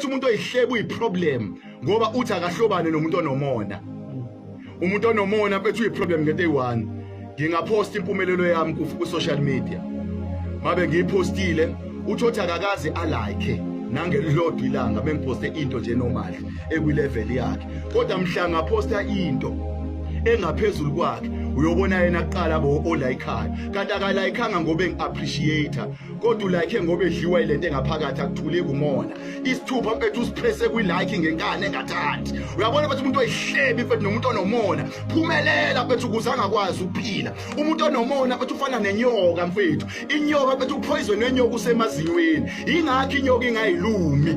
Uthi umuntu oyihlebu uyiproblem ngoba uthi akahlobane nomuntu onomona. Umuntu onomona mfethu uyiproblem ngento eyi-one. Ngingaphosta impumelelo yami ku-social media. Mabe ngiyiphostile uthi othi akakaze alike nangelilodwa ilanga bengiphoste into nje normal ekwilevel yakhe. Kodwa mhla ngaphosta into engaphezulu kwakhe uyobona yena kuqala bo olayikhayo kanti akalayikanga ngoba engi-appreciate kodwa ulike ngoba edliwa ilento engaphakathi akuthuleki umona isithupha mfethu usiphese kwilike ngenkani engathathi uyabona mfethu umuntu oyihlebi mfethu nomuntu onomona phumelela mfethu ukuze angakwazi ukuphila umuntu onomona mfethu ufana nenyoka mfethu inyoka mfethu uphoyizwe nenyoka usemazinyweni ingakho inyoka ingayilumi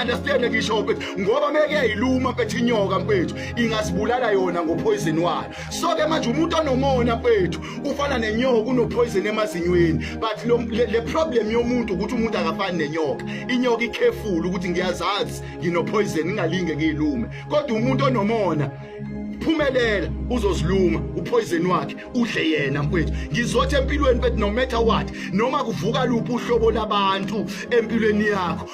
understand ngisho mfethu ngoba meke yayiluma mfethu inyoka mfethu ingasibulala yona ngophoyizeni wayo so ke manje umuntu onomona mfethu ufana nenyoka kunopoison emazinyweni but lo, le, le problem yomuntu ukuthi umuntu akafani nenyoka inyoka ikhefula ukuthi ngiyazazi nginopoison ngingalinge ngiyilume kodwa umuntu onomona phumelela uzoziluma upoison wakhe udle yena mfethu ngizothi empilweni bethi no matter what noma kuvuka luphi uhlobo labantu empilweni yakho